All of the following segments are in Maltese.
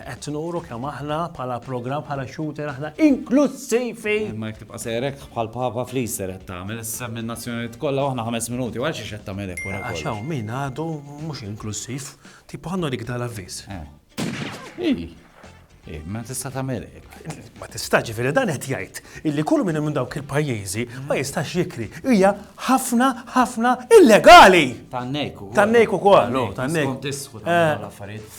Qed nuru kemm aħna bħala programm bħala shooter aħna inklussivi! Ma jek tibqa' sejrek bħal Papa fl-Easter qed tagħmel issa minn nazzjonijiet kollha aħna ħames minuti għal xiex qed tagħmel hekk wara Għax hawn min għadu mhux inklussiv, tipo ħannu dik dal-avviż. Eh, ma tista' tagħmel Ma tista' ġifieri dan qed jgħid illi kull minn minn dawk il-pajjiżi ma jistax jikri. Hija ħafna ħafna illegali. Tannejku. Tannejku ukoll, tannejku. Skont isħu eh. l-affarijiet.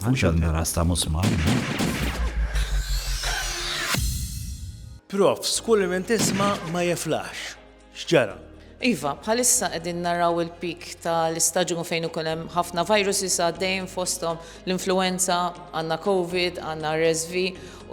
Mhux għandna ras ta' musmar, le. Prof, Skull imma tisma' ma jeflaħx. X'ġara? Iva, bħalissa qegħdin naraw il-peak tal-istaġun fejn ikun hemm ħafna viruses għaddejjin fosthom l-influenza, għandna Covid, għandna RSV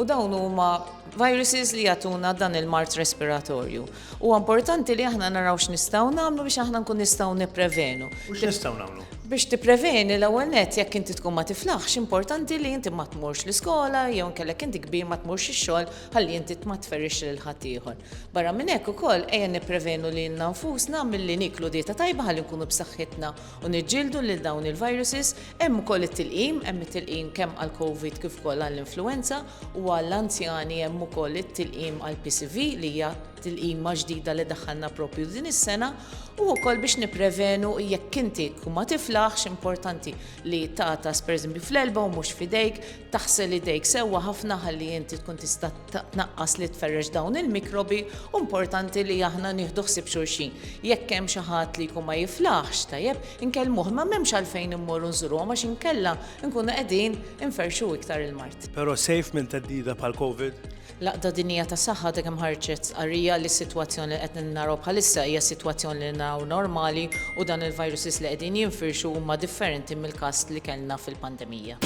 u dawn huma viruses li jagħtuna dan il-mard respiratorju. Huwa importanti li aħna naraw x'nistgħu nagħmlu biex aħna nkun nistgħu nipprevenu. U x'nistgħu nagħmlu? Biex tippreveni l-ewwel nett jekk inti tkun ma tiflaħx, importanti li inti ma tmurx l-iskola jew inkella jekk inti kbir ma tmurx ix-xogħol ħalli inti ma tferrixx lil ħaddieħor. Barra minn hekk ukoll ejja nipprevenu lilna nfusna milli nieklu dieta tajba ħalli nkunu b'saħħitna u niġġieldu lil dawn il-viruses, hemm ukoll it-tilqim, hemm it-tilqim kemm għall-Covid kif ukoll għall-influwenza u għall-anzjani hemm ukoll it-tilqim għall-PCV li hija tilqima ġdida li daħħalna proprju din is-sena u wkoll biex nipprevenu jekk inti tkun ma tiflaħx importanti li tagħtas pereżempju fl-elba u mhux f'idejk Taħsel idejk sewwa ħafna ħalli inti tkun tista' tnaqqas li tferrex dawn il-mikrobi u importanti li aħna nieħdu ħsieb xulxin. Jekk hemm xi ħadd li jkun ma jiflaħx tajjeb, inkellmuh imma m'hemmx għalfejn immorru nżuruhom għax inkella nkunu qegħdin inferrxu iktar il-mard. Però safe minn theddida bħal Covid? L-Għaqda Dinjija tas-Saħħa għadha kemm ħarġet stqarrija li s-sitwazzjoni li qed naraw bħalissa hija s-sitwazzjoni li naraw normali u dan il-viruses li qegħdin jinfirxu huma differenti mill-każ li kellna fil-pandemija.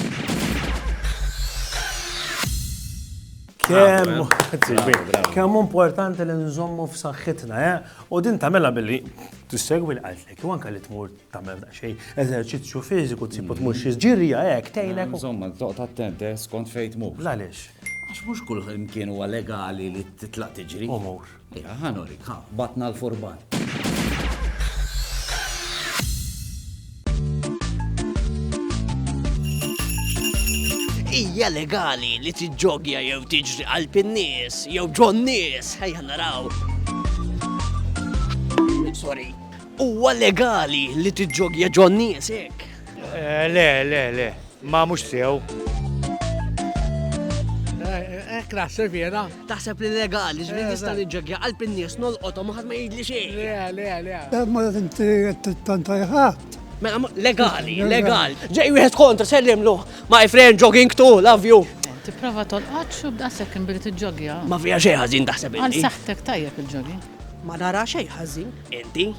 Kemm hu importanti li nżommu f'saħħitna, eh? U din tagħmilha billi tissegwi l-qalbek, u anke li tmur tagħmel daqsxejn eżerċizzju fiżiku tsibu tmur xi ġirja hekk tgħinek. Insomma, toqgħod attent eh, skont fejn tmur. Għaliex? Għax mhux kull imkien huwa legali li titlaq tiġri. Umur. Ja, ħanorik, ha, batna l-furban. Hija legali li tiġġogja jew tiġri qalb in-nies jew ġon nies, ħajja naraw. Sorry. Huwa legali li tiġġogja ġon nies hekk? Eh, le, le, le, ma mhux sew. Ek naħseb jena. Taħseb li legali, ġbir eh, nista' niġġogja qalb in-nies nolqothom ħadd ma jgħidli xejn. Le, le, le. Eh, ma inti tanta jħadd. Mela, legali, legal. Ġej wieħed kontra sellimlu. My friend jogging too, love you. Tipprova tolqot xub daqshekk billi tiġġogja. Ma fija xejn ħażin taħseb. Għal saħtek tajjeb il-ġogi. Ma nara xejn ħażin. Inti?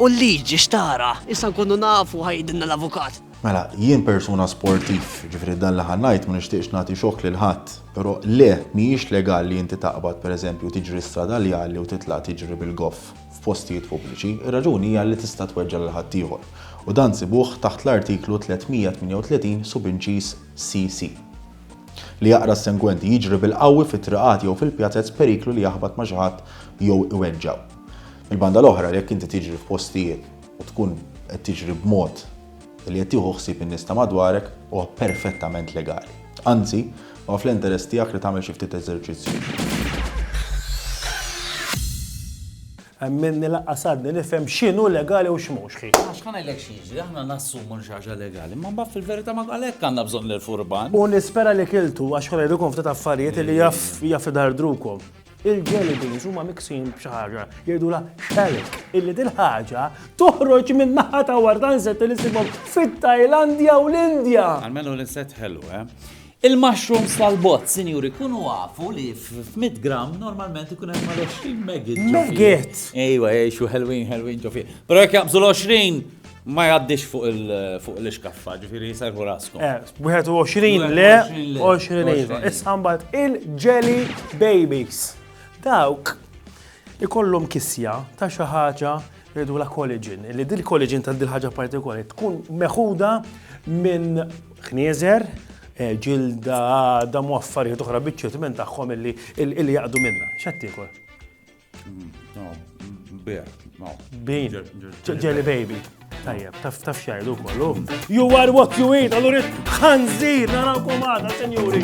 U l-liġi xtara, issa nkunu nafu ħajdinna l-avukat. Mela, jien persuna sportiv, ġifri dan li ħannajt ma nixtieqx nagħti xokk lil ħadd, però le mhijiex legal li inti taqbad pereżempju tiġri strada li għalli u titla' tiġri bil-goff f'postijiet pubbliċi, ir-raġuni hija li tista' tweġġa' lil ħaddieħor. U dan sibuh taħt l-Artiklu 338 subinċiż CC. Li jaqra s-sengwenti, Jiġri bil-qawwi fit-triqat jew fil-pjazez periklu li jaħbat ma' xi ħadd jew iweġġgħu. Mill-banda l-oħra, jekk inti tiġri f'postijiet u tkun qed tiġri b'mod li qed tieħu ħsieb in-nies ta' madwarek, huwa perfettament legali. Anzi, huwa fl-interess tiegħek li tagħmel xi ftit eżerċizzju. Hemm minni laqqas għadni nifhem x'inhu legali u x'mhux, ħi. Għax ħa ngħidlek xi jiġri, aħna nassumu li xi ħaġa legali, imma mbagħad fil-verità ma għalhekk għandna bżonn l-furban. U nispera li kiltu għax ħa ngħidilkom ftit affarijiet li jaf jaf idardrukom. Il-jelly beans huma miksin b'xi ħaġa jgħidulha shallot, illi dil-ħaġa toħroġ minn naħa ta' wara ta' insetti li ssibhom fit-Tajlandja u l-Indja. Għalmenu l-insett ħelu, eh? Il-mushrooms tal-bott, sinjuri, kunu afu li f'mitt gramm normalment ikun hemm mal-20 megit ġo fih. Megit! Ejwa, jgħixu ħelwin, ħelwin ġo fih. Però jekk jaqbżu l-20, ma jgħaddix fuq l-ixkaffa, ġifieri jsejħu raskom. Eh, 21 le, 20 iva. Issa mbagħad il-jelly babies. Dawk ikollhom kisja ta' xi ħaġa Rridu la collagen, li dil collagen ta' dil ħaġa partikolari tkun meħuda minn ħnieżer, eh, ġilda, damu affarijiet oħra biċċiet minn tagħhom illi illi jaqdu minna. X'qed tiekol? Bin, jelly baby. Tajjeb, taf taf xajdu kollu. You are what you eat, allura ħanżir, narawkom għada, senjuri.